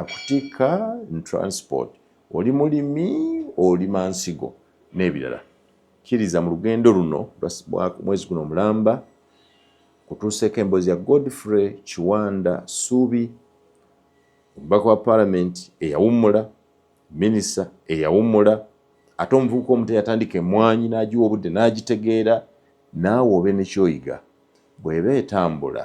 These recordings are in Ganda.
akutikka n transport oli mulimi olima nsigo n'ebirala kkiriza mu lugendo luno mwezi guno omulamba kutuuseeko emboozi ya godfrey kiwanda suubi omubaka wa paalamenti eyawummula minisita eyawummula ate omuvubuka omuto yatandika emwanyi n'agiwa obudde n'agitegeera naawe obe nekyoyiga bw'eba etambula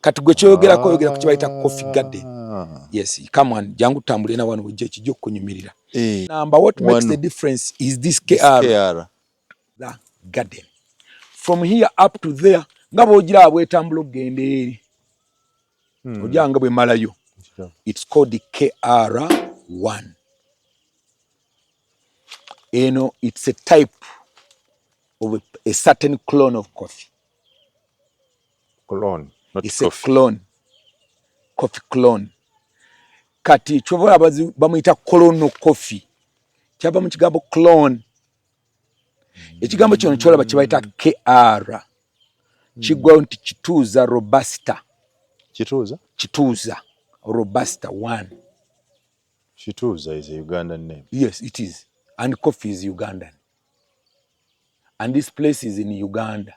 kati gwe kyoyogera ko yogera ku kibayita coffee garden ah. yes come on jangu tambule na wano wejje kijjo kunyumirira eh. number what makes one. the difference is this KR, this KR. the garden from here up to there nga bojira abwetambula okugenda eri hmm. ojanga bwe malayo it's called the KR one eno it's a type of a, a certain clone of coffee clone not it's coffee. a clone coffee clone kati kyobola abazi bamuyita colono coffee kyava mu kigambo clone ekigambo kino kyolaba kyebayita kr kiggwayo nti kituuza robusta kituuza kituuza robusta one kituuza is a ugandan name yes it is and coffee is ugandan and this place is in uganda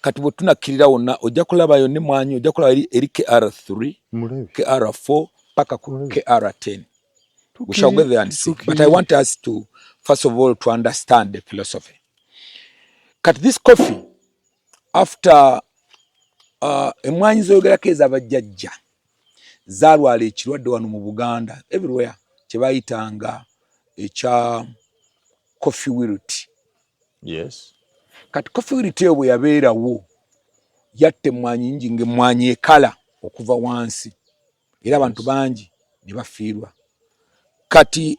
kati bwe tunakkirira wonna ojja kulabayo ne mwanyi ojja kulaba eri, eri kr 3 kr 4 paka ku kr 10 we shall go there and see but i want us to first of all to understand the philosophy kati this coffee after uh, emwanyi zoyogerako ezabajjajja zalwala ekirwadde wano mu buganda everywhere kyebayitanga ekya coffee wilt yes kati kofiriti eyo bwe yabeerawo yatta emmwanyi nyingi ng'emmwanyi ekala okuva wansi era abantu bangi ne bafiirwa kati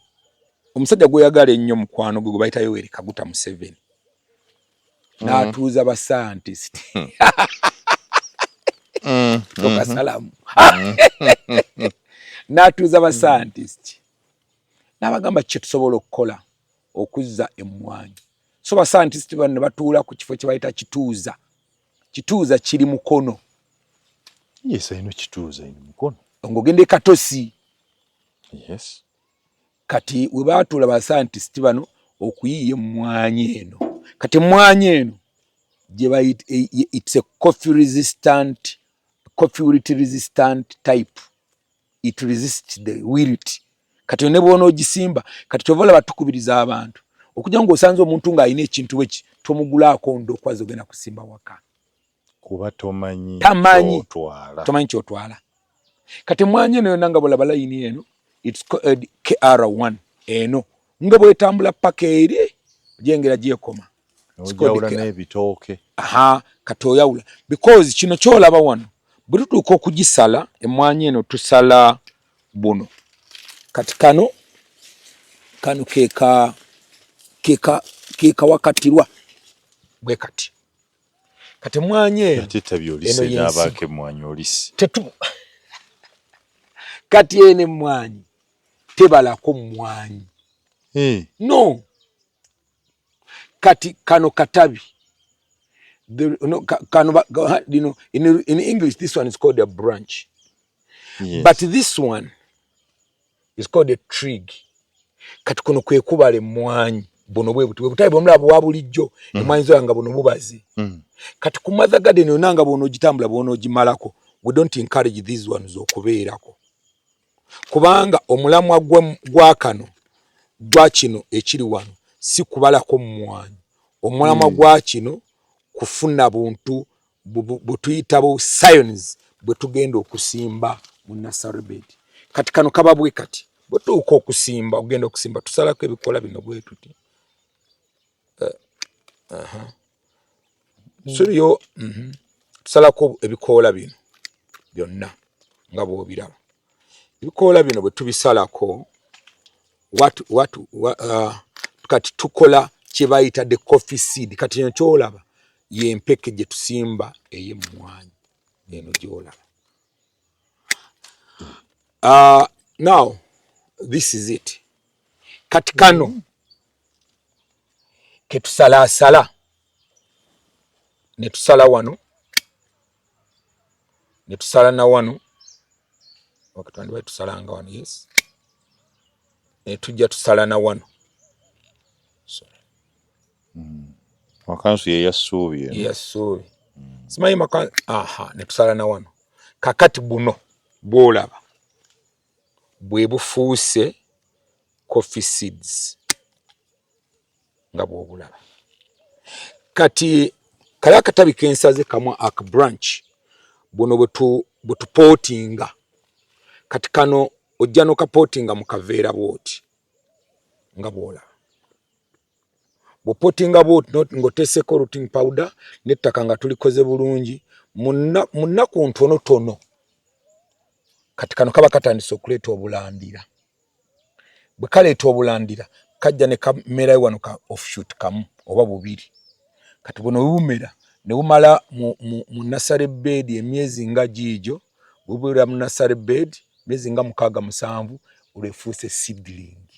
omusajja gweyagala ennyo mukwano gwe gwe bayitayo weri kaguta museveni mm. n'atuuza basayantisiti hmm. hmm. tokasalamu hmm. n'atuuza basayantisiti n'abagamba kyetusobola okukola okuzza emmwanyi so basayantisiti bano ne batuula ku kifo kye bayita kituuza kituuza kiri mukono yes, ino kituuza ino mukono ng'ogenda e katosi yes. kati we baatuula basayantisiti bano okuyiiya emmwanyi eno kati emmwanyi eno gye bayita e, e, it's a coffee resistant coffee resistant type it resist the wilt kati yo ne bwona ogisimba kati kyova olaba tukubiriza abantu okujja nga osanze omuntu ng'alina ekintu eki tomugulaako ndo okwaza ogenda kusimba waka kuba tomanyi tamanyi tomanyi kyotwala kati mwanya eno yona nga bolaba layini eno its called kr1 eno nga bwetambula paka eri jengera gyekoma nebitooke aha kati oyawula because kino kyolaba wano bwe tutuuka okugisala emwanyi eno tusala buno kati kano kano keka keka keka wakatirwa bwe kati kati emwanyi eno tetu kati ene emwanyi tebalako mwanyi hmm. no kati kano katabi the, no, kano ba, you know, in, in english this one is called a branch yes. but this one is called a trig kati kuno kwekubala emwanyi buno bwebuti bwebutabi bwomulaba bwa bulijjo mm. emwanyi zoya nga buno bubazi mm. kati ku mother garden yona nga bwona ogitambula bwona ogimalako we don't encourage these ones okubeerako kubanga omulamwa gwa kano gwa kino ekiri wano si kubalako mumwanyi omulamwa hmm. gwa kino kufuna buntu bwetuyita bu science bwetugenda okusimba mu nasarbed kati kano kaba bwe kati bwetuuka okusimba ogenda okusimba tusalako ebikola bino bwetuti eh, aha hmm. subiyo mhm. tusalako ebikoola bino byonna nga bwobiraba ebikoola bino bwe tubisalako watu watu wa, uh, kati tukola kyebayita the coffee seed kati eno kyolaba yempeke gye tusimba eyemmwanyi eno gyolaba uh, now this is it kati kano mm -hmm. ketusalaasala ne tusala wano ne tusala na wano wakitwandiba tusalanga wano yes ne tujja tusala na wano hmm. makansu ye yassuubi yassuubi hmm. simanyi makansu aha ne tusala na wano kakati buno bwolaba bwe bufuuse coffee seeds nga bwobulaba kati kali akatabi kensaze kamu ak branch buno bwetupootinga kati kano ojja nokapootinga mu kaveera bwoti nga bwolaba bwopotinga ng'oteeseko rooting powder n'ettaka nga tulikoze bulungi mu nnaku ntonotono kati kano kaba katandise okuleeta obulandira bwe kaleeta obulandira kajja ne kamerayo wano ka offshoot kamu oba bubiri kati buno bumera ne bumala mu nasale beedi emyezi nga giigyo bubera mu nasale beedi emyezi nga mukaaga musanvu olwefuuse sidlingi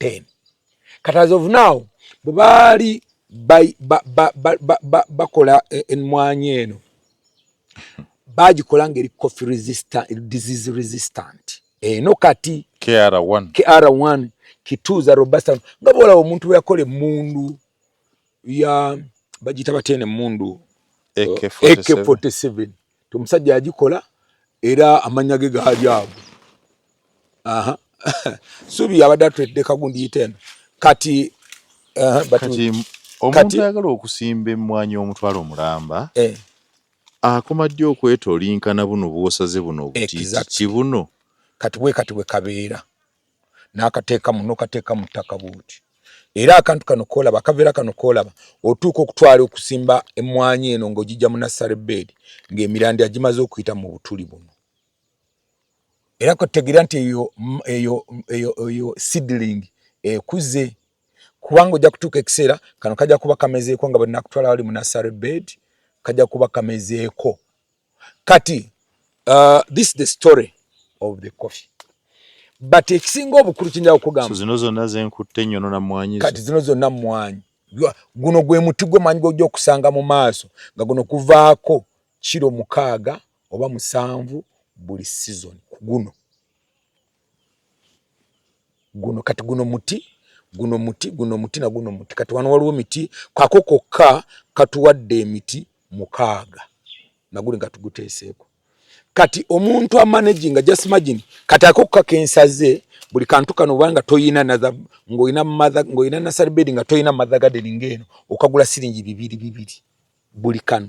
10 kati as of now bwebaali bakola e, emmwanyi eno bagikola ngaeri coffee resistant disease resistant eno kati kr1 kr1 kituuza robusta nga bwolaba omuntu weyakola emundu ya bagiyita batya eno emundu ak47 nti omusajja yagikola era amannya ge gaali ago aha subi yabadde atwedde kagundi yiteno kati uh, kati omuntu ayagala okusimba emmwanyi omutwalo omulamba eh. akoma ddi okwetolinkana buno bwosaze buno obutiiti buno kati bwe kati bwe kabeera n'akateekamu n'okateekamu ttaka bwoti era akantu kano koolaba akaveera kano koolaba otuuka okutwala okusimba emmwanyi eno ng'ogijja mu nassale beedi ng'emirandi agimaze okuyita mu butuli buno era kwetegeera nti eyo eyo eyo eyo seedling ekuze kubanga ojja kutuuka ekiseera kano kajja kuba kamezeeko nga bwenakutwala wali mu nassale beedi kajja kuba kamezeeko kati uh, this is the story of the coffee but ekisinga obukulu kinja okugamba zino zonna zenkutte nyono na mwanyi kati zino zonna mwanyi guno gwe muti gwe manyi gwoja okusanga mu maaso nga guno kuvaako kiro mukaaga oba musanvu buli season ku guno guno kati guno muti guno muti guno muti na guno muti kati wano waliwo miti kako kokka katuwadde emiti mukaaga naguli nga tuguteeseeko kati omuntu amanagi nga just imagine kati ako kokka kensaze buli kantu kano obanga toyina ngaolina ngaolina nasarbedi nga toyina mathe gadeni ngaeno okagula siringi bibiri bibiri buli kano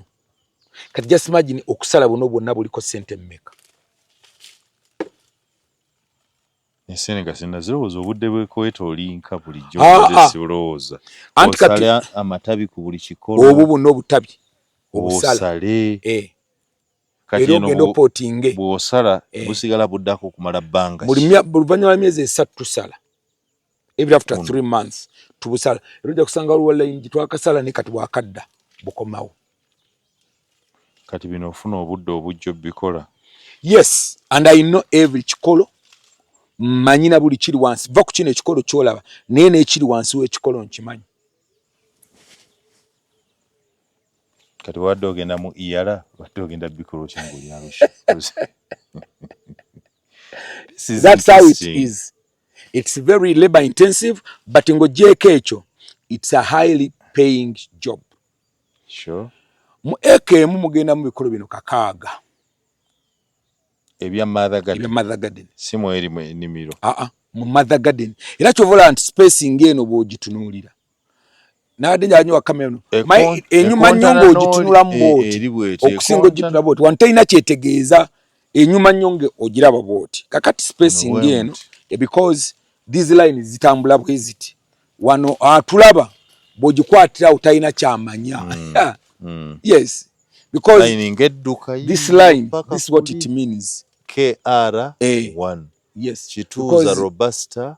kati just imagine okusala buno bwonna buliko sente mmeka obwo bwonna obutabi obusale eh. era ogenda opotinge bwosala eh. busigala buddako okumala bbanga luvannyuma lwa myezi esatu tusala even after mm. three months tubusala era ojja kusanga waliwo layingi twakasala ne kati bwakadda bukomawo kati bino ofuna obudde obujja obikola yes and i know every kikolo mmanyi na buli kiri wansi va ku kino ekikolo kyolaba naye nekiri wansi wekikolo nkimanyi kati wadde ogenda mu iyala e wadde ogenda bikolo kyangaolyalusi it's very labor intensive but ng'ogyeko ekyo it's a highly paying job sure. mu eka emu mugenda mu bikolo bino kakaaga ebya mother garden, ebya mother garden. si mweri enimiro aa mu mother garden era kyovola nti spacing eno bwogitunuulira nabadde njala nyo wakame eno enyuma nnyo ng'ogitunula mu booti okusinga ogitunula booti wano talina kyetegeeza enyuma nnyo ng'ogiraba booti kakati spacing eno because these lines zitambula bweziti wano atulaba ah, bw'ogikwatirawo talina kyamanya mm. mm. yes because this line this is what it means kr1 eh. yes kituuza robusta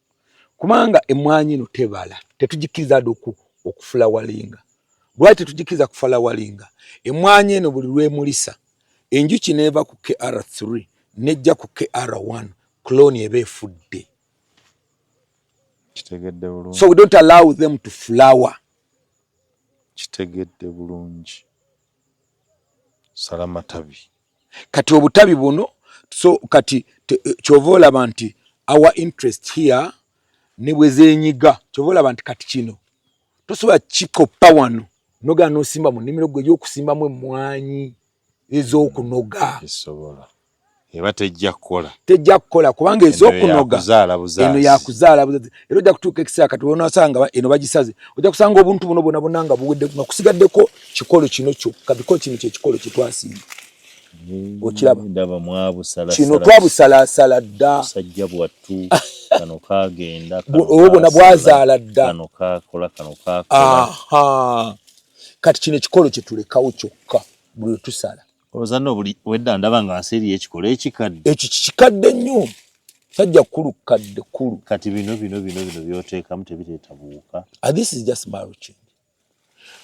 kubanga emmwanyi eno tebala tetugikkiriza ade okufula walinga lwaki tetugikkiriza kufala walinga emmwanyi eno buli lwemulisa enjuki neeva ku kr3 nejja ku kr1 cloni eba efudde so we don't allow them to flower kitegedde bulungi sala matabi kati obutabi buno so kati eh, kyova olaba nti our interest here ne bwe zenyiga kyova olaba nti kati kino tosobola kikoppa wano nogana nosimba mu nimiro gwe yokusimbamu emwanyi ezokunoga eba tejja kukola tejja kukola kubanga ezokunoga eno yakuzaala buzazi era ojja kutuuka ekiseera kati onasanga eno bagisaze ojja kusanga obuntu buno bona bona nga buwedde nga kusigaddeko kikolo kino kyokka biko kino kyekikolo kyetwasinga hmm, okiraba kino twabusalaasala dda musajja bwattu kano kagenda obo bona bwazaala dda kano kakola kano kakola kati kino ekikolo kyetulekawo kyokka buli wetusala ozanna obuli wedda ndaba nga nsi eriyo ekikolo ekikadde ekyo kikikadde nnyo sajja kukulu kukadde kulu kati bino bino bino bino byoteekamu tebireeta buwuka ah, this is just maruching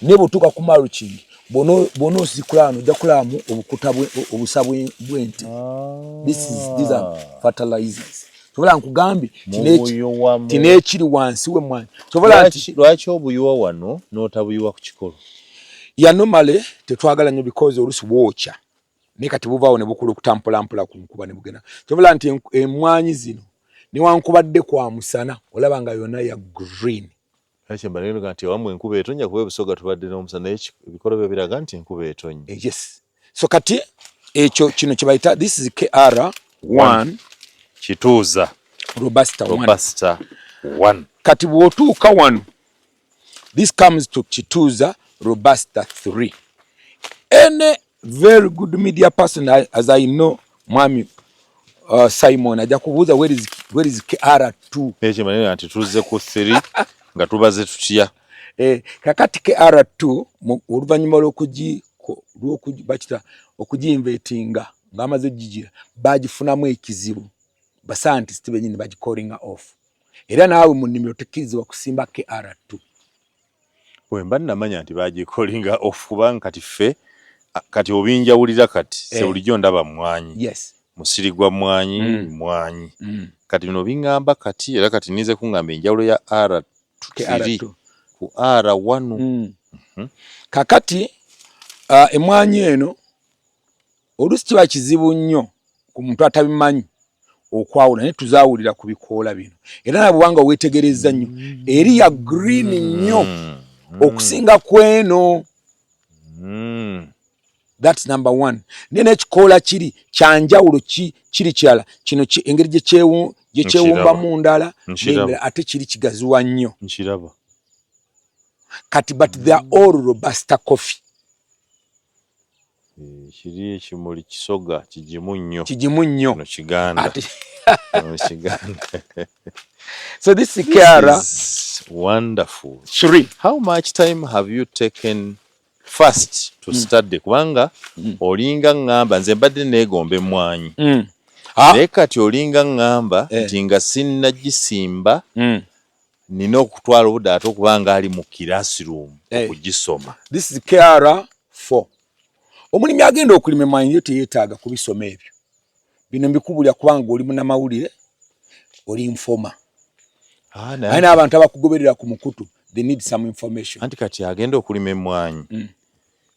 naye bwotuuka ku maruching bwona osikula wano ojja kulaamu obukuta obusa bw'ente ah. this is these are fertilizers sobola nkugambye tino ekiri wansi we mwana sobola nti lwaki obuyiwa wano n'otabuyiwa ku kikolo yanomale tetwagala nnyo bikozi olusi bwokya naye kati buvaawo ne bukula okutambula mpola ku nkuba ne bugenda sobola nti emmwanyi zino newankubadde kwa musana olaba nga yona ya green Kale kye mbadde ngamba nti awamu enkuba etonnya kuba e Busoga tubadde n'omusana naye ki- ebikolobero biraga nti enkuba etonnya. Eh, yes so kati ekyo kino kye bayita this is kr 1 Kituuza robusta 1 Robusta one. kati bw'otuuka wano this comes to kituuza robusta 3 any Very good media person as I know mwami uh, Simon aja kubuza where is where is KR2. Eche maneno anti tuze ku 3 nga tubaze tutia. Eh kakati KR2 oluvanyuma lokuji lokuji bachita okuji invitinga ngamaze jijira bajifunamu ekizibu. Ba scientist benyini baji calling off. Era nawe mu nimero tekiziwa kusimba KR2. Bwemba namanya nti bagikolinga off kubanga kati ffe kati obinjawulira kati eh. sewulijo ndaba mwanyi yes. musiri gwa mwanyi mm. mwanyi mm. kati bino bingamba kati era kati ninze kungamba enjawulo ya r tiri ku r wanu mm. mm -hmm. kakati uh, emwanyi eno oluusi kiba kizibu nnyo ku muntu atabimanyi okwawula naye tuzawulira ku bikoola bino era na bwubanga weetegereza nnyo mm. eri ya green nnyo mm. Mm. okusinga ku eno thats number one naye n'ekikoola kiri kyanjawulo kiri kirala kino engeri gyekyewumbamu ndala ate kiri kigaziwa nnyo kati but they're all robusta coffee Kiri ekimuli kisoga kigimu nnyo. Kigimu nnyo. No kiganda. Ati. no kiganda. so this is Kiara. This is wonderful. Three. How much time have you taken first to mm. study kubanga mm. olinga ngamba nze mbadde neegomba emmwanyi. Mm. Ah. Naye kati olinga ngamba eh. nti nga sinnagisimba. Mm. nina okutwala obudde ate okuba nga ali mu classroom eh. okugisoma this is kr four omulimi agenda okulima emwanyi yo teyetaaga kubisoma ebyo bino mbikubulira kubanga gwe oli munamawulire oli nfoma ah, naye n'abantu abakugoberera ku mukutu they need some information anti kati agenda okulima emwanyi mm.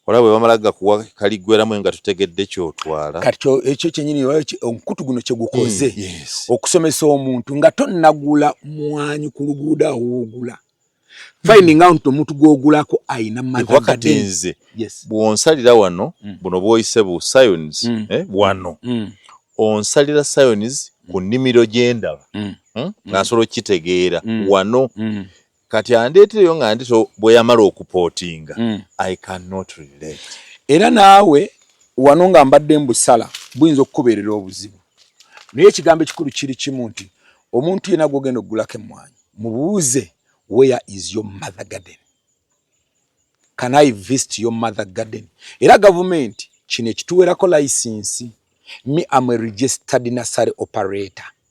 olaba bwe bamala gakuwa kaliggweramu nga tutegedde kyotwala kati ekyo kyenyini omukutu guno kye gukoze mm, okusomesa omuntu nga tonnagula mwanyi ku luguudo awoogula finding mm. out omuntu gwogulako ayina makati nze bwonsalira wano mm. buno bwoyise bu science eh, wano onsalira science ku nnimiro gyendaba hmm? nga nsobola okukitegeera wano kati andeetereyo nga ndi so bwe yamala okupootinga mm. i cannot relate era naawe wano nga mbadde mbusala buyinza okukubeerera obuzibu naye ekigambo ekikulu kiri kimu nti omuntu yena gwogenda okugulako emmwanyi mubuuze where is your mother garden can i visit your mother garden era gavumenti kino ekituweerako layisinsi mi am a registered nasary operator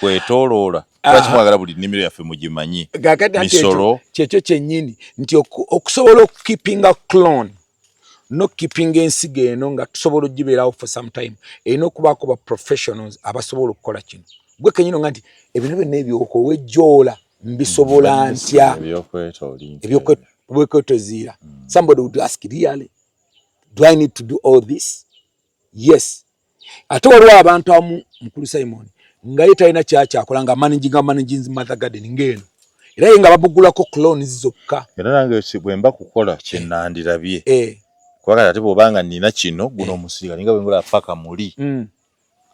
kwetoloola lwaki mwagala buli nnimiro yaffe mugimanyi misolo kyekyo kyennyini nti okusobola okukipinga clone nokukipinga ensigo eno nga tusobola ogibeerawo for some time erina okubaako ba professionals abasobola okukola kino gwe kenyino nga nti ebintu byonna ebyokowa ejjoola mbisobola mm, ntya ebyokwetoziira mm. somebody would ask really do i need to do all this yes ate waliwo abantu amu mukulu simon nga ye talina kyakyakola nga managinga managins mother garden ngaeno era ye nga babugulako clones zokka era nange bwemba kukola kyenandirabye eh. kubagati ate bwobanga nina kino guno eh. omusiga ninga bwengula paka muli mm.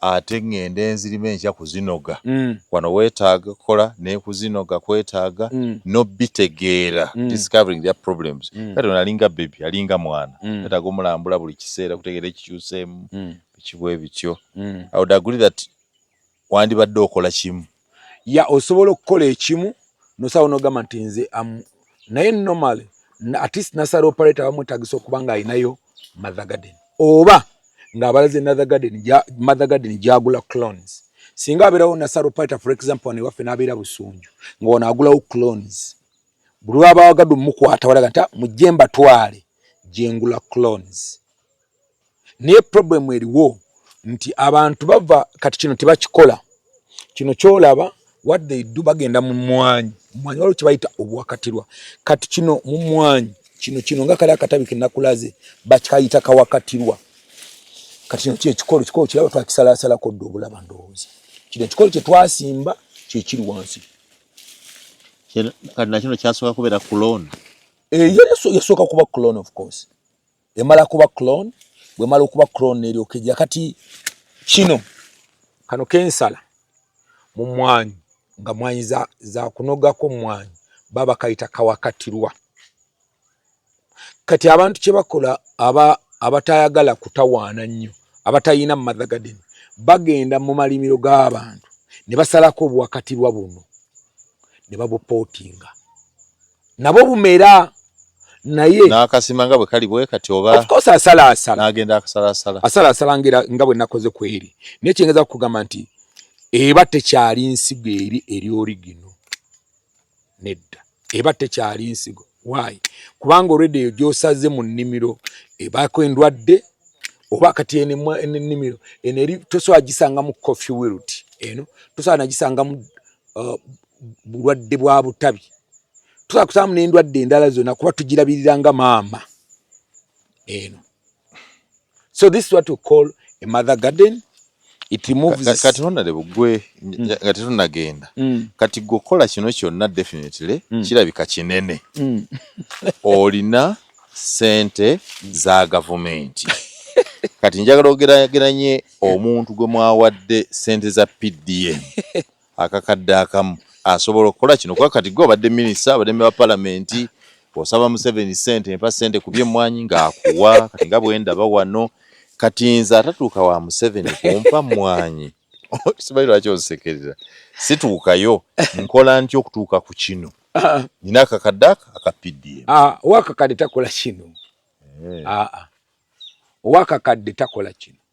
ate ngende enzirima enkya kuzinoga mm. wano wetaaga kola nekuzinoga kwetaaga mm. nobitegeera mm. discovering their problems mm. kati onalinga bebi alinga mwana mm. etaaga omulambula buli kisa ekiseera kutegeera ekikyuseemu mm. bikibwe bityo mm. i would agree that wandibadde okola kimu ya osobola okukola ekimu nosawo nogamba nti nze am naye normal at least nasala operator bamwetagisa okuba nga alinayo mother garden oba ngaabalaze mother garden mother garden gyagula clones singa abeerawo nasala operator for example wano ewaffe nabeera busunju nga wano agulawo clones buli wabawagade omukwata walaga nti ah, mujje mbatwale gyengula clones naye problem eriwo nti abantu bava kati kino tebakikola kino kyolaba what they do bagenda mu mwanyi mwanyi waliwo kyebayita obuwakatirwa kati kino mu mwanyi kino kino nga kali akatabi kenakulaze bakayita kawakatirwa kati kino kyekikolo kikolo kiraba twakisalasalako dda obulaba ndowooza kino ekikolo kyetwasimba kyekiri wansi kati nakino kyasobola kubeera kuloni Eh, yasooka kuba clone of course emala kuba clone bwemala okuba clone neryokeja kati kino kano kensala mu mwanyi nga mwanyi za, za kunogako mwanyi baba kayita kawakatirwa kati abantu kyebakola aba abatayagala kutawaana nnyo abatayina mu mother garden bagenda mu malimiro g'abantu ne basalako obuwakatirwa buno ne babupootinga nabo bumera naye nakasima nga bwe kali bwe kati oba of course asala asala nagenda akasala asala asala asala ngira nga bwe nakoze kweri ne kingeza kugamba nti eba tekyali nsigo eri eri origino nedda eba tekyali nsigo why kubanga already eyo gyosaze mu nnimiro ebaako endwadde oba kati enennimiro eno eri tosobola gisanga mu coffee wilt eno tosobola nagisanga mu uh, bulwadde bwa butabi tusobola kusaamu n'endwadde endala zonna kuba tugirabirira nga maama eno so this is what we call a mother garden kati honore bugwe mm. nga tetunagenda mm. kati gwe okukola kino kyonna definitely mm. kirabika kinene olina sente za gavumenti kati njagala ogerageranye omuntu gwe mwawadde sente za pdm akakadde akamu asobola okukola kino kuba kati gwe obadde minisita abadde meba palamenti osaba museveni sente mpa sente ku byemmwanyi ng'akuwa kati nga bwendaba wano kati nze atatuuka wa museveni kumpa mmwanyi simanyi lwaki onsekerera situukayo nkola nti okutuuka ku kino ah. nina akakadde ako aka pdm ah, owakakadde takola kino eh. ah, owakakadde takola kino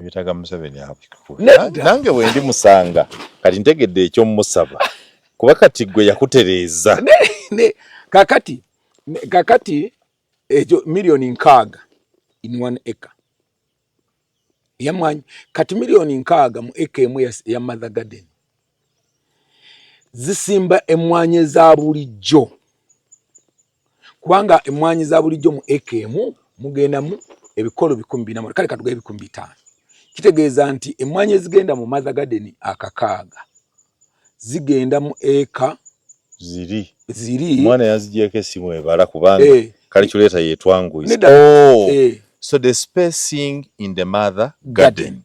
ebitaga museveni nange wendi musanga kati ntegedde ekyomusaba kuba kati gwe yakutereeza kakati kakati ekyo miliyoni nkaaga in one acre yamwanyi kati miliyoni nkaaga mu eka emu ya mother garden zisimba emmwanyi eza bulijjo kubanga emmwanyi za bulijjo mu eka emu mugendamu ebikolo bikumi bina kale katuga ebikumi bitaano kitegeeza nti emmwanyi ezigenda mu mother garden akakaaga zigenda mu eka ziri ziri mwana yazijeko esimu ebala kubanga hey. Eh. calculator yetwanguisa oh. hey. Eh. so the spacing in the mother garden, garden.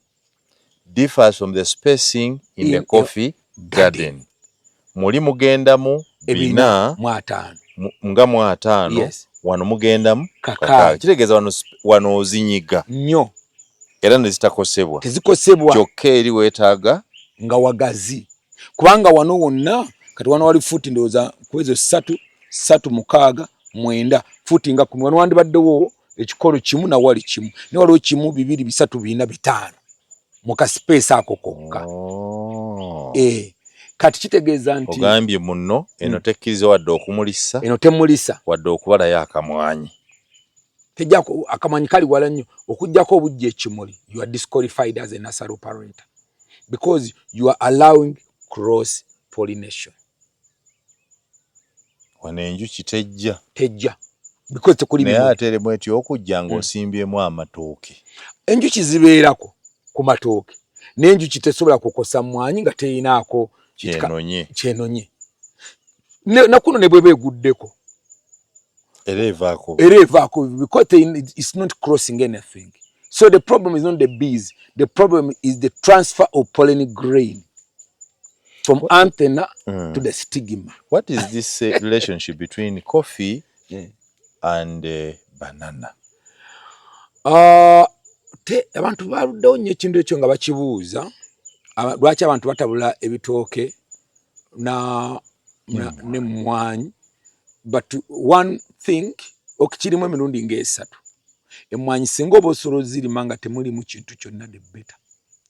differs from the spacing in the coffee garden muli mugendamu bina nga mu ataano wano mugendamu kaka kitegeeza wano wano ozinyiga nnyo era nezitakosebwa tezikosebwa kyokka eri weetaaga nga wagazi kubanga wano wonna kati wano wali fuuti ndowooza kwezo ssatu ssatu mukaaga mwenda futi nga kumi wano wandibaddewo ekikolo kimu nawali kimu naye waliwo kimu bibiri bisatu bina bitaano mu kasipeesi ako kokka oh. eh, kati kitegeeza nti ogambye muno eno hmm. tekkiriza wadde okumulisa eno temulisa wadde okubalayo akamwanyi tejako akamanyi kali wala nnyo okujjako obujja ekimuli you are disqualified as a nasal operator because you are allowing cross pollination wano enjuki tejja tejja because tekuli naye ate eri mweti okujja hmm. ng'osimbyemu amatooke enjuki zibeerako ku matooke naye enjuki tesobola kukosa mmwanyi nga teyinaako kyenonye nakuno ne bweba eguddeko era evaako era evaako because it's not crossing anything so the problem is not the bees the problem is the transfer of pollen grain from what, antenna mm. to the stigma what is this uh, relationship between coffee yeah. and uh, banana uh, te abantu baluddewo nnyo ekintu ekyo nga bakibuuza lwaki abantu batabula ebitooke na, na, mm. ne mwanyi but one thing okikirimu emirundi ng'esatu emmwanyi singa oba osobola ozirima nga temulimu kintu kyonna the better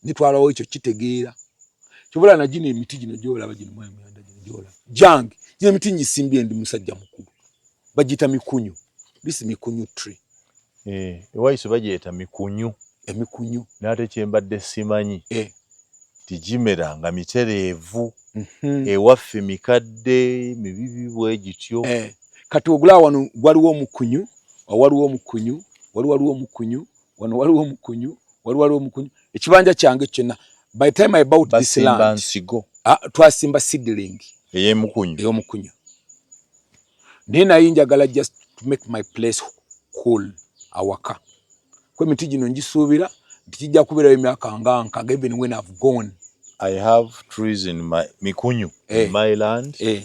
nitwalawo ekyo kitegeera kyobola na gino emiti gino gyolaba gino mwayi muyanda gino gyolaba jange gino emiti ngisimbye ndi musajja mukulu bagiyita mikunyu this mikunyu tree Eh, ewaisu bagyeta mikunyu. Emikunyu. N'ate kye mbadde simanyi Eh. nti gimera nga mitereevu. Mhm. Ewaffe mikadde, mibibi bwe gityo. Eh, kati ogulaba wano waliwo omukunyu, awo waliwo omukunyu, wali waliwo omukunyu, wano waliwo omukunyu, wali waliwo omukunyu. Ekibanja kyange ekyo kyonna, by the time I bought this land. Basimba nsigo. Ah, twasimba seedling. Ey'emukunyu. Ey'omukunyu. naye naye njagala just to make my place cool awaka kwe miti gino njisuubira nti kijja kubeerayo emyaka nga nkaga even when I've gone I have trees in my mikunyu eh, in my land eh,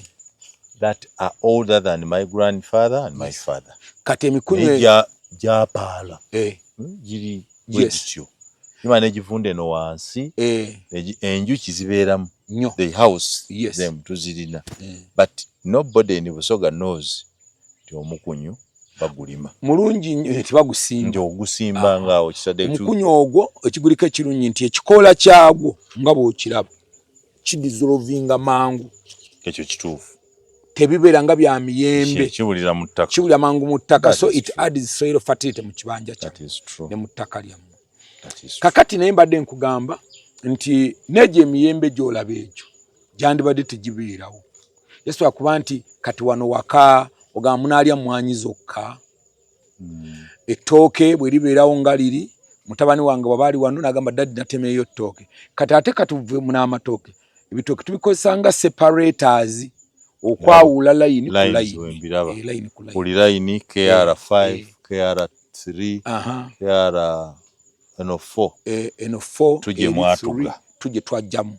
that are older than my grandfather and my father kati emikunyu e- gyapaala eh, hmm, giri bwegityo imana egivunda eno wansi eh. enjuki zibeeramu the house yes. them tuzirina mm. but nobody in busoga knows ti omukunyu bagulima mulungi eh, nti bagusimba nti ogusimba ah. ngaawo kisade omukunyu ogwo ekigulika ekirungi nti ekikoola kyagwo nga bwokiraba kidizolovinga mangu ekyo kituufu tebibeera nga bya miyembe kiwulira mu ttaka kiwulira mangu mu ttaka so it adds soil fertility mu kibanja kyammwe ne mu ttaka lyammwe kakati naye mbadde nkugamba nti n'egyo emiyembe gy'olaba egyo gyandibadde tegibeerawo yesu akuba nti kati wano waka ogamba munaalya mmwanyi zokka mm. ettooke bwe libeerawo nga liri mutabani wange bwaba ali wano nagamba dadi natemeeyo ttooke kati ate katuve munamatooke ebitooke tubikozesa nga separators okwawula layini kuli layini kr5 kr3 kr eno 4 eno 4 tuje mwatuga tuje twajjamu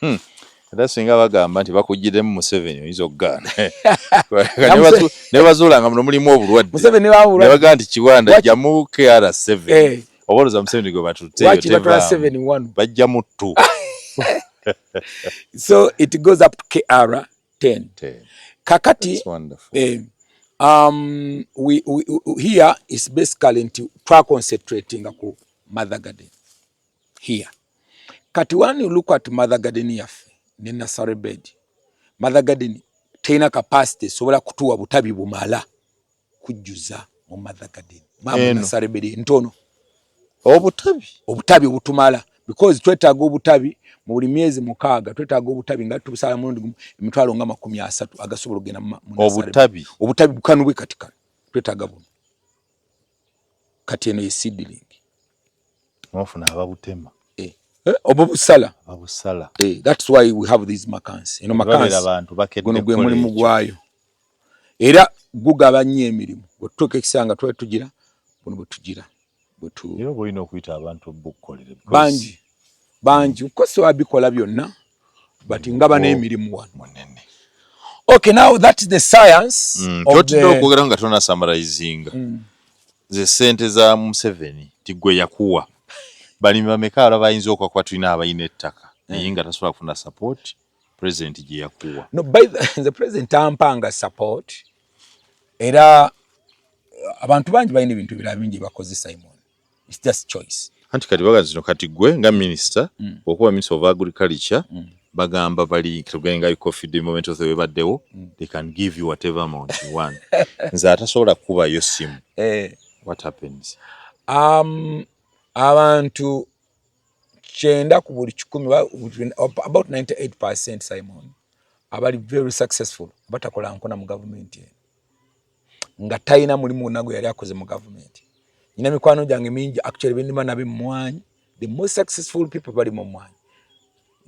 Hmm. era singa bagamba nti bakugiremu museveni oyinza okugaana nebazuula nga muno mulimu obulwaddebagaa nti kiwanda jamu kr7 eh. oboloza museveni gwe batuteeyobajja mu ttu so it goes up to kr 10 kakati eh, um, we, we, here is basically nti twaconcentratinga ku mother garden here kati when you look at mother garden yaffe ne nursery bed mother garden tena capacity sobola kutuwa butabi bumala kujjuza mu mother garden mama nursery bed ntono obutabi obutabi obutumala because twetaga obutabi mu buli myezi mukaaga twetaga obutabi nga tubusala mulundi gumu emitwalo nga makumi asatu agasobola okugenda mu obutabi obutabi bukanubwe katikano twetaga buno kati eno ye seedling mwafuna ababutema eh, eh, obo busala abusala eh, that's why we have these makansi eno makansi abantu bakedde guno gwe mulimu gwayo era gugaba nnyo emirimu bwetutuuka ekiseera nga twali tugira buno bwetugira bwetuera oba olina okuyita abantu bukukolere bangi bangi kukosa wabikola byonna but nga bana emirimu wano munene okay now that is the science mm, of the okugera nga tona summarizing mm. ze sente za Museveni tigwe yakuwa bali bameka ala bayinza okwakuba tulina abayina ettaka mm. naye nga tasobola kufuna support president gye yakuwa no by the, the president ampanga support era abantu bangi balina ebintu birala bingi bakozesa imwe it's just choice anti kati baga zino kati gwe nga minister mm. okuba minister of agriculture mm. bagamba bali tugenga you coffee the moment of the webaddewo mm. they can give you whatever amount you want nze atasobola kuba yo simu eh. what happens um abantu kyenda ku buli kikumi about 98 percent simon abali very successful batakola nkona mu government eno nga talina mulimu gwonna gwe yali akoze mu gavumenti nyina mikwano gyange mingi actually benima nabe mumwanyi the most successful people bali mu mwanyi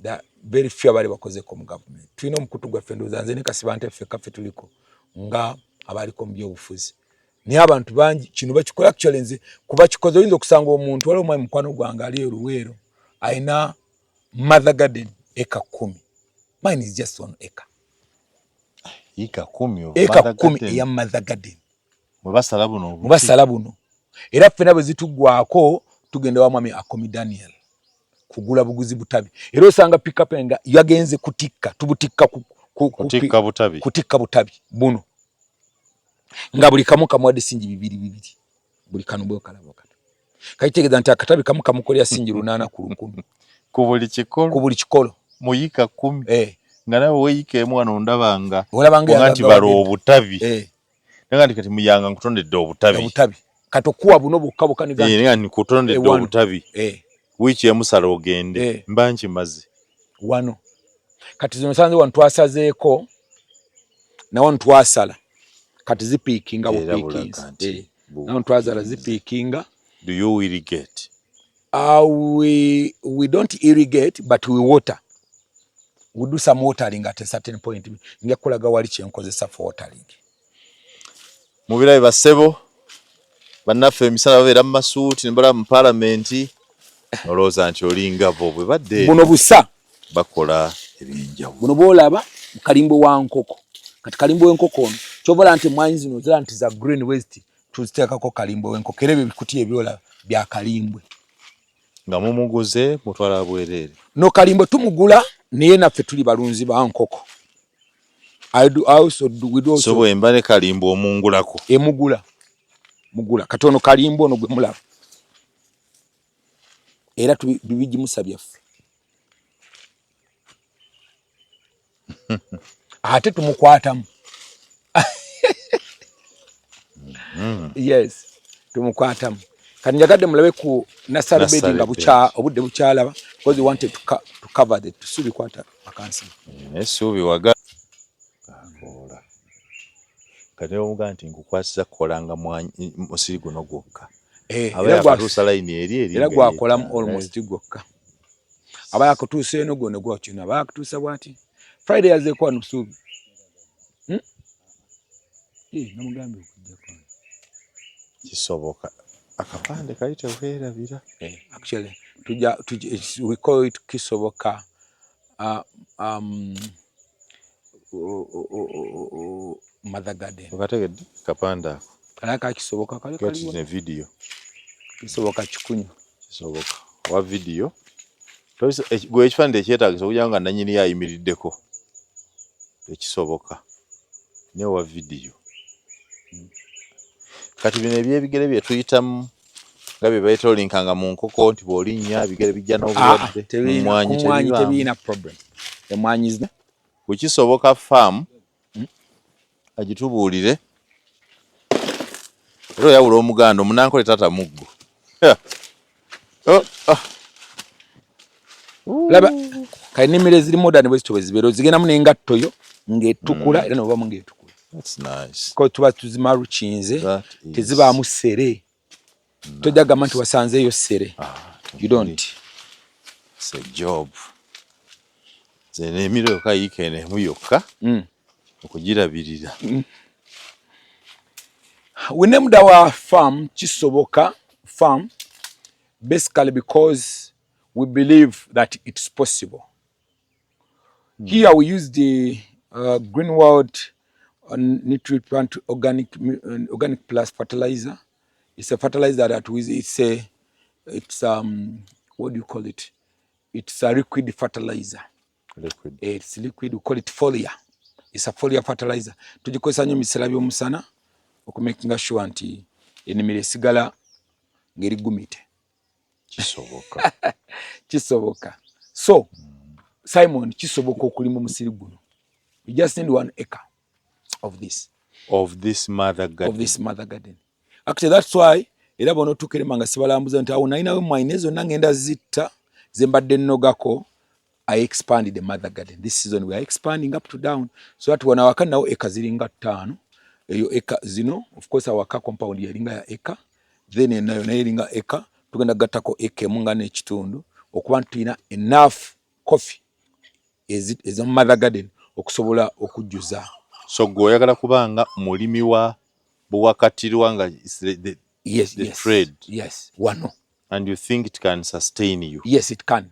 the very few abali bakozeko mu gavumenti tulina omukutu gwaffe ndowooza nze ne kasibante ffe kaffe tuliko nga abaliko mu byobufuzi naye abantu bangi kino bakikola actually nze kuba kikoze oyinza okusanga omuntu waliwo omwami mukwano gwange ali eruweero alina mother garden eka kumi mine is just one acre eka kumi eka kumi eya mother garden mubasala buno mubasala buno era ffena bwe zitugwako tugenda wa mwami akomi daniel kugula buguzi butabi era osanga pickup nga yagenze kutikka tubutikka ku, ku, kutikka butabi kutikka butabi buno nga buli kamu kamuwadde singi bibiri bibiri buli kano bwe kalabo kati kaitegeza nti akatabi kamu kamukolera sinji lunana ku lukumi ku buli kikolo ku buli kikolo muyika 10 eh nga nawe weyika emu wano ndaba nga olaba nga nti balo obutabi eh nga nti kati muyanga nkutondedde obutabi obutabi katokuwa buno bukka bukani gani eh nga nti kutondedde obutabi eh wiiki emu sala ogende eh. mba nkimaze wano kati zino sanze wano twasazeeko nawano twasala kati zipiikinga eh. nawano twazala zipiikinga do you irrigate uh, we, we don't irrigate but we water we do some watering at a certain point nja kulaga wali kyenkozesa for watering mubirabe basebo bannaffe emisana babeera mu masuuti nebala mu palamenti nolowooza nti olinga bo bwe badde buno busa bakola ebyenjawulo buno bwolaba kalimbo wa nkoko kati kalimbo w'enkoko ono kyobola nti emwanyi zino zira nti za green west tuziteekako kalimbo w'enkoko era ebyo bikuti ebyolaba bya kalimbwe nga mumuguze mutwala bwereere no kalimbo tumugula naye naffe tuli balunzi ba nkoko so bwemba ne kalimba omungulako emugula eh, mugula kati ono kalimba ono gwe mulaba era tubigimusa byaffe ate tumukwatamu mm-hmm. yes tumukwatamu kati njagadde mulabe ku nasarubedi nga obudde bukyalaba because we wanted to, co to cover the tusubikwatako akansi esuubi waga akoola kati omuga nti nkukwasiza kukolanga musiri guno gwokka eh, abayakutuusa layini eri eri era gwakolamu almost eh. gwokka aba yakutuusa eno gwona gwakino aba yakutuusa bwati friday yazeeko wano busuubi hmm? eh, namugambye okujja kwano kisoboka akapande kali tewerabira actually tuja tuja we call it kisoboka uh, um, mother garden okategedde kapande ako kala kakisoboka kale kali ne video kisoboka kikunya kisoboka wa video toiso eh, gwe ekifande ekyetagisa okugira nga nanyini yayimiriddeko ekisoboka ne wa video hmm. kati bino ebyebigere bye tuyitamu nga bye beetolinkanga mu nkoko nti bw'olinnya ebigere bijja n'obulwadde ah, ah, emmwanyi tebirina problem emmwanyi zina kukisoboka faamu hmm? agitubuulire era oyawula omuganda omunankole taata muggo oh, ah. laba kali nimire ziri modern bwe zitobe zibero zigenda mune ngatto yo ngetukula mm. era noba mungetukula that's nice ko tuba tuzima ruchinze teziba mu sere nice. toja gama nti wasanze yo sere ah, you don't it's a job zene emire yoka yikene mu yoka mm. okujirabirira mm. we named our farm kisoboka farm basically because we believe that it's possible mm. here we use the uh, green world uh, nutrient plant organic uh, organic plus fertilizer it's a fertilizer that we it's a it's um what do you call it it's a liquid fertilizer liquid. it's liquid we call it folia it's a folia fertilizer tugikozesa nyo misera byomusana okumakinga sure nti enimiro esigala ngeri gumite kisoboka kisoboka so mm. simon kisoboka okulima omusiri guno you just need one acre of this of this mother garden of this mother garden actually that's why era bona otukerema nga sibalambuza nti awo nalinawe mwine zonna ngenda zitta zembadde nnogako I expanded the mother garden. This season we are expanding up to down. So that wana waka nao eka zilinga tano. Eyo eka zino. Of course waka compound ya linga ya eka. Then ena yona ya linga eka. Tukenda gata ko eke munga ne chitundu. Okuwa ntu ina enough coffee. Is it is a mother garden. Okusobola okujuza. So gwe yagala kubanga mulimi wa buwakati ruwanga is the, the, yes, the yes, trade. Yes. Wano. And you think it can sustain you? Yes, it can.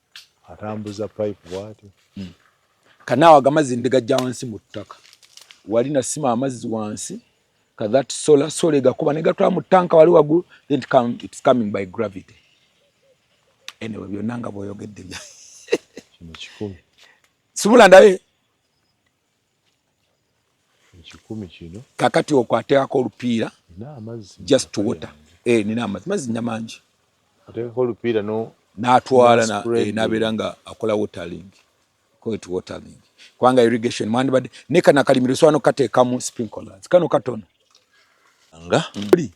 atambuza pipe bwati hmm. kanawa agamazi ndigajja wansi mu ttaka wali nasima amazzi wansi ka that solar solar gakuba ne gatwala mu tanka wali wagulu then it come, it's coming by gravity anyway byonna nga bwoyogedde bya kino kikumi sibula ndabe ekikumi kino kakati okwo ateekako olupiira just water eh, nina amazzi mazzi nina mangi ateekako olupiira n'atwala eh, nabeera nga akola watering koet watering kubanga irrigation mwandibadde ne kano akalimiro sobola nokukateekamu sprinklers kano katono nga oli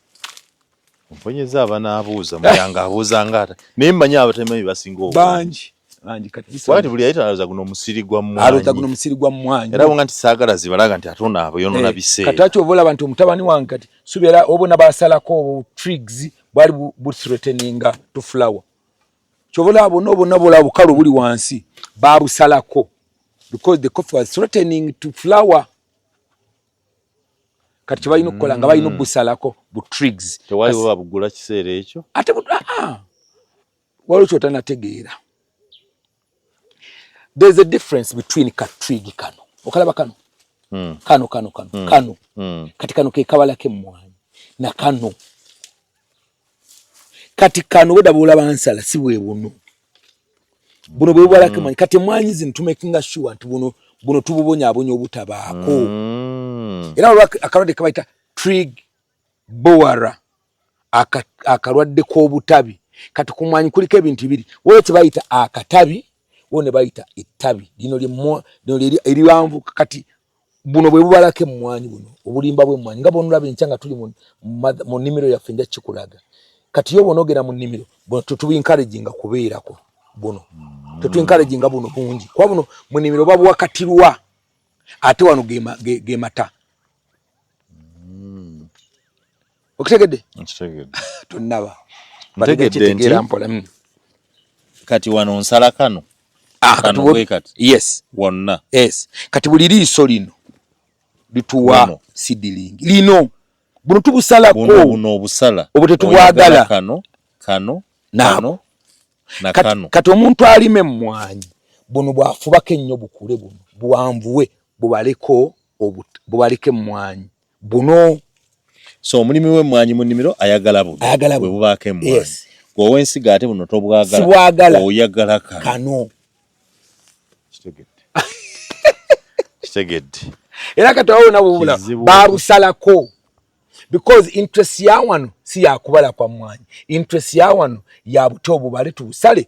Mpunyeza abana abuuza muyanga abuuza ngata. Naye manya abatemanyi basinga obwa. Banji. Banji kati kisa. Wali buli ayita alaza guno musiri gwa mwanyi. Alaza guno musiri gwa mwanyi. Era wonga ntisagala zibalaga nti atona abo yono eh, na bise. Kati acho obola abantu omutabani wange kati. Subira obo na basala ko obo trigs bali bu, bu threatening to flower. Chobola abo nobo nabo la bukalo buli wansi. Babu salako. Because the coffee was threatening to flower. kati kyebalina okukola nga balina obusalako mm. bu trigs tewaliwo babugula kiseera ekyo ate ah, ah. waliwo kyotanategeera there's a difference between ka trig kano okalaba kano mm. kano kano kano mm. kano mm. kati kano kekabala kemmwanyi na kano kati kano weda bula bansala si bwe buno buno bwe bwala kama mm. kati mwanyi zin to making us sure nti buno buno tububonya abonyo obutabaako mm. era olwa akalwadde kabaita trig bowara akalwadde k'obutabi kati ku mwanyi kuliko ebintu bibiri waliwo kye bayita akatabi waliwo ne bayita ettabi lino lino eriwanvu kati buno bwe bubalako emmwanyi buno obulimba bw'emmwanyi nga bwonolaba enkya nga tuli mu nnimiro yaffe nja kikulaga kati yo bwonogera mu nnimiro buno tetubinkalejinga kubeerako buno mm. tetwinkalejinga buno bungi kuba buno mu nnimiro babuwakatirwa ate wano ge mata mm. okitegedde nkitegedde tonnaba ntegedde nti mm. kati wano nsala kano ah, kano bwe kati yes wonna yes kati buli liiso lino lituwa sidilingi lino buno tubusalako buno obusala obwo tetubwagala kano kano nano na kano kati omuntu alime mmwanyi buno bwafubako ennyo bukule buno buwanvuwe bubaleko obubaleke mmwanyi buno so omulimi we mwanyi mu nimiro ayagala buno ayagala buno bubaka emwa yes gwe wensiga ate buno tobwagala sibwagala oyagala ka kano kitegedde kitegedde era kati wawo nabo bula babusalako because interest ya wano si yakubala kwa mwanyi interest ya wano ya buto obubale tubusale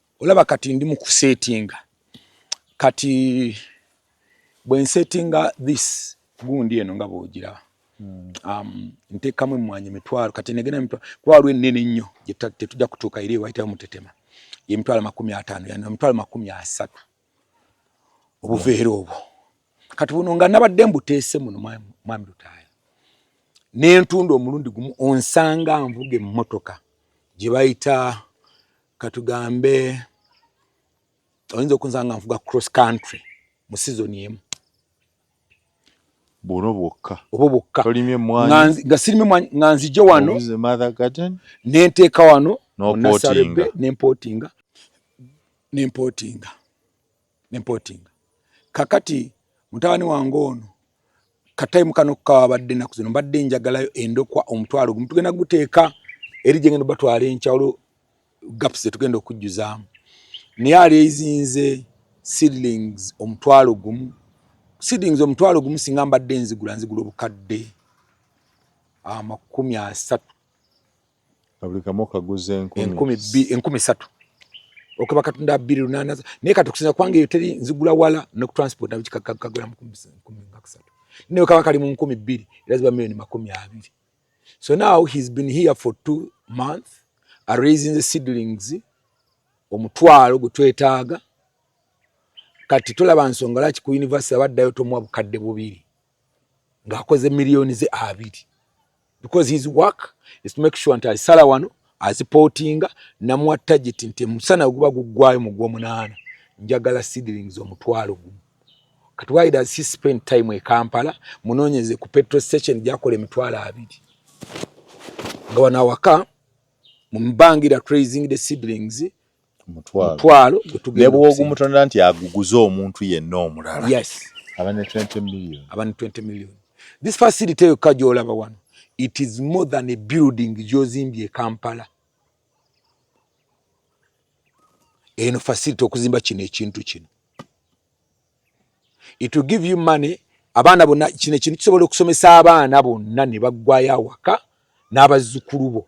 olaba kati ndi mukusetinga kati bwensetinga this gundi eno nga bwogira hmm. um, ntekamu emwanyi emitwalo kati negenda emitwalo kuba waliwo enene ennyo tetujja kutuuka eri ewayitayo mutetema yemitwalo makumi ataano yan emitwalo makumi asatu obuveera obwo kati buno nga nabadde mbuteese muno mwami lutaaya nentunda omulundi gumu onsanga nvuga emmotoka gye bayita katugambe oyinza okunza nga nvuga cross country mu sizoni emu bwono bwokka obwo bwokka nga sirime nga nzije wano nenteeka wano nasarebe nempotinga nempotinga ne mpotinga kakati mutabani wange ono katayimu kano kawabadde ennaku zino mbadde njagalayo endokwa omutwalo gumu tugenda guteeka eri gye ngenda batwala enkyawulo gaps zetugenda okujjuzaamu naye aleezinze seedlings omutwalo gumu seedlings omutwalo gumu singa mbadde nzigula nzigula obukadde amakumi asatu nga buli kamu okaguza enkumi enkumi satu okaba katunda abiri lunana naye kati okusinza kubanga eyo teri nzigula wala nekutransport nakikagula mukumiakusatu naye kaba kali mu nkumi bbiri era ziba millioni makumi abiri so now he's been here for two month araising the seedlings omutwalo gwe twetaaga kati tolaba nsonga laki ku university abaddayo tomuwa bukadde bubiri ng'akoze miliyoni ze abiri because his work is to make sure nti alisala wano azipootinga namuwa tageti nti emusana guba guggwayo mu gwomunaana njagala seedlings omutwalo gumu kati why does he spend time e kampala munoonyeze ku petrol station gyakola emitwalo abiri nga wano awaka mumbangira tracing the seedlings mutwalo ne bwogumutonera nti aguguze omuntu yenna omulala yes aba ne 20 million aba ne 20 million this facility yokka gyolaba wano it is more than a building gyozimbye ekampala eno facility okuzimba kino ekintu kino it will give you money abaana bonna kino ekintu kisobola okusomesa abaana bonna ne baggwayo awaka n'abazzukulu bo